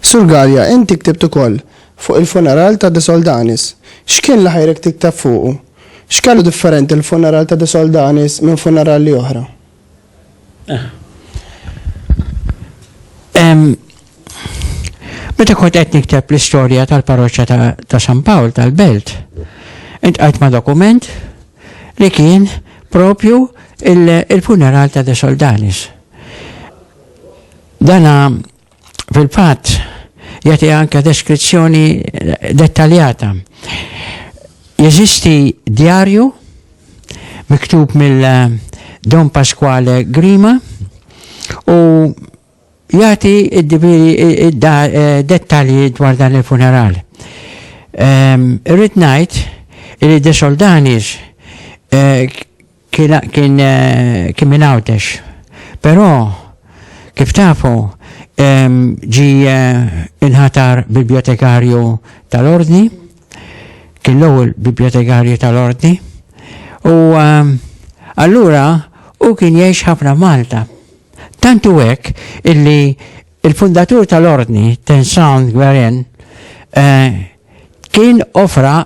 Sur Gallia, inti ktibt ukoll fuq il-funeral ta' De Soldanis. X'kien li ħajrek tiktab fuqu? X'kellu differenti l-funeral ta' De Soldanis minn funerali oħra? Meta kont qed nikteb l-istorja tal-parroċċa ta' San Pawl tal-Belt, intqajt ma' dokument li kien propju il-funeral ta' De Soldanis. Dana fil-fatt jagħti anke deskrizzjoni dettaljata. Jeżisti djarju miktub mill eh, Don Pasquale Grima u jagħti eh, dettalji dwar dan il-funeral. Ehm, irrid ngħid li De Soldanis eh, Kien kien kien minn Għawdex. Però kif tafu ġie inħatar Bibjotekarju tal-Ordni, kien l-ewwel Bibjotekarju tal-Ordni, u allura hu kien jgħix ħafna Malta. Tant hu hekk illi il-fundatur tal-Ordni, Tensound Gwerin, kien offra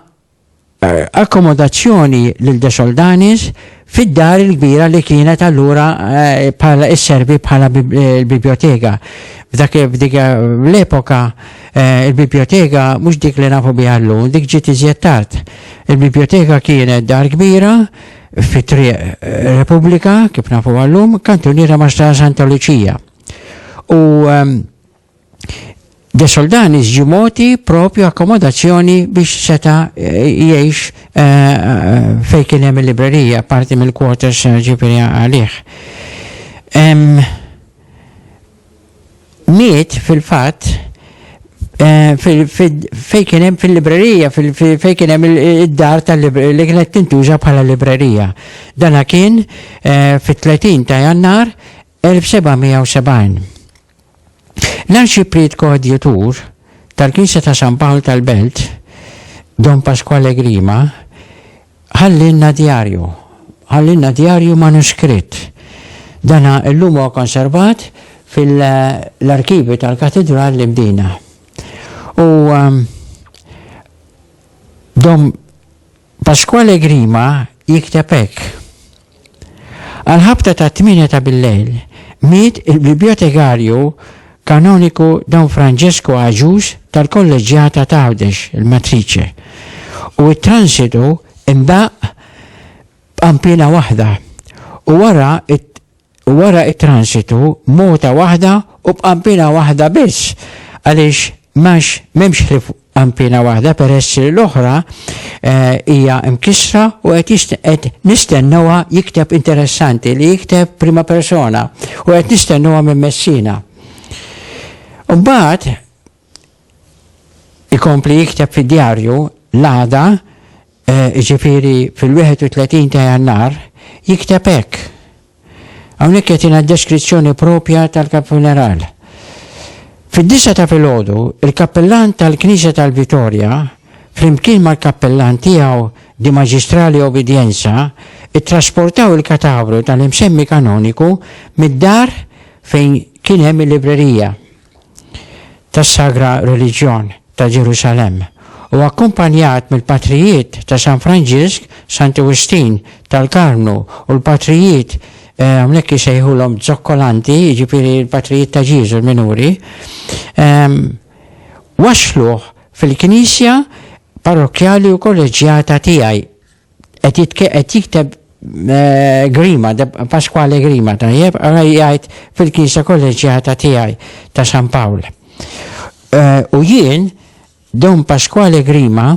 akkomodazzjoni lil De Soldanis fid-dar il-kbira li kienet allura bħala isservi bħala l-bibjoteka. F'dak f'dik l-epoka il-bibjoteka mhux dik li nafu biha llum, dik ġiet iżjed tard. Il-bibjoteka kienet dar kbira fi Triq Repubblika, kif nafuha llum, kantuniera ma' Strada Santa Luċija. U De Soldanis ġie mogħti propju akkomodazzjoni biex seta' jgħix fejn kien hemm il-librerija, parti mill-quarters ġifieri għalih. Miet fil-fatt fejn kien hemm fil-librerija, fejn kien hemm id-dar li kienet tintuża bħala librerija. Dana kien fit-30 ta' Jannar 1770. L-Arċipriet Koadjutur tal-Knisja ta' San Pawl tal-Belt, Don Pasquale Grima, ħallielna djarju. Ħallielna djarju manuskritt. Dan illum huwa konservat fil-arkivju tal-Katidral li bdiena. U Don Pasquale Grima jikteb hekk, Għall-ħabta tat-tmienja ta' billejl, miet il-Bibjotekarju Kanoniku Don Francesco Agius tal-Kolleġġjata ta' Għawdex, il-Matrice, u t-transitu ndaqq b'qanpiena waħda u wara u wara t-transitu muta waħda u b'qanpiena waħda biss għaliex m'għax m'hemmx ħlief qanpiena waħda peress li l-oħra hija mkissra u qed jist- qed nistennewha jikteb interessanti li jikteb prima persona u qed nistennewha minn Messina. Imbagħad Ikompli jikteb fid-djarju l-għada, jiġifieri fil-31 ta' Jannar, jikteb hekk. Hawnhekk qed jingħad deskrizzjoni proprja tal-Kap Funeral. Fid-disgħa ta' filgħodu, il-Kappillan tal-Knisja tal-Vitorja, flimkien mal-Kappillan tiegħu di Magistrali Obidienza, ittrasportaw il-katavru tal-imsemmi kanoniku mid-dar fejn kien hemm il-librerija. tas-Sagra Reliġjon ta' Ġerusalemm u akkumpanjat mill-Patrijiet ta' San Franġisk, Santu Wistin tal-Karmnu u l-Patrijiet, hawnhekk isejħulhom zokkolanti, jiġifieri l-Patrijiet ta' Ġieżu l-minuri, wasluh fil-Knisja Parrokkjali u Kolleġġjata tiegħi. Qed jitke- qed jikteb eh, Grima, da- Pasquale Grima, tajjeb, ara jgħid fil-Knisja Kolleġġjata tiegħi ta' San Pawl. Eh, U jien, Don Pasquale Grima,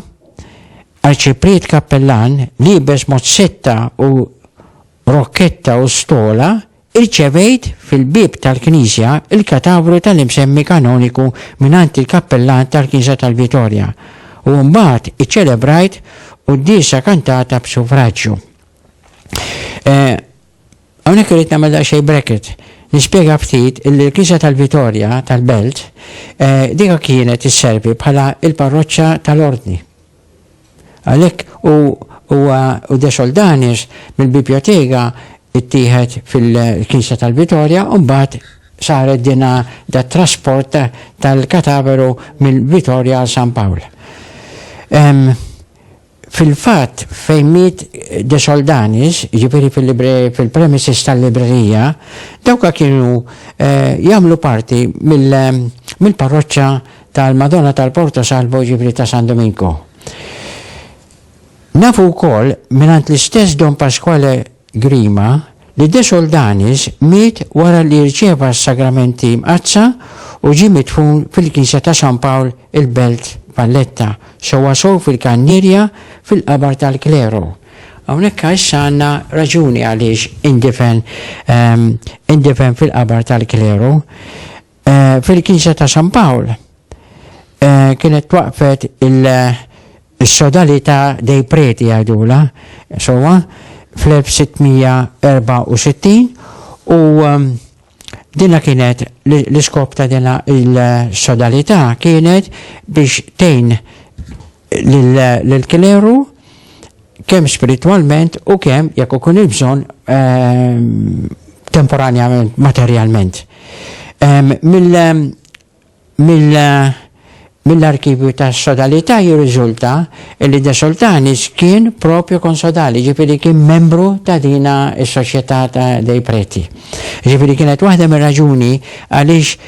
arċipriet kappellan, libes mod setta u rokketta u stola, Irċevejt fil-bieb tal-knisja l-katavru tal-imsemmi kanoniku mingħand il-kappellan tal-knisja tal-Vitorja u mbagħad iċċelebrajt quddiesa kantata b'sufraġġju. Hawnhekk irrid nagħmel daqsxejn bracket, nispjega ftit li l-knisja tal-Vitorja tal-Belt diga kienet isservi bħala l-parroċċa tal-Ordni. Għalhekk hu huwa u De Soldanis mill-Bibjotega ttieħed fil-Knisja tal-Vitorja u mbagħad saret din da trasport tal-kataveru mill-Vitorja għal San Pawl. Fil-fatt fejn miet De Soldanis, jiġifieri fil-premises tal-librerija, dawk kienu eh, jagħmlu parti mill-parroċċa tal-Madonna tal-Porto Salvo jiġifieri ta' San Domingo. Nafu wkoll mingħand l-istess Don Pasquale Grima li De Soldanis miet wara li rċieva s-sagramenti mqaddsa u ġie midfun fil-Knisja ta' San Pawl il-Belt Valletta, sewwa sew fil-kannierja fil-qabar tal-kleru. Hawnhekk issa għandna raġuni għaliex indifen indifen fil-qabar tal-kleru. Eh, fil-Knisja ta' San Pawl eh, kienet twaqfet il-sodali ta' dej preti għajdula, sowa, fl-1664 u ehm, Dina kienet l-iskop ta' dina il-sodalità kienet biex tejn lill-kleru kemm spiritwalment u kemm jekk ikun il-bżonn ehm, temporanjament materjalment. Ehm, mill-arkivju ta' sodalità jirriżulta li De Soltanis kien propju konsodali, ġifiri kien membru ta' dina s-soċjetà ta' dei preti. Ġifiri kienet waħda mir raġuni għaliex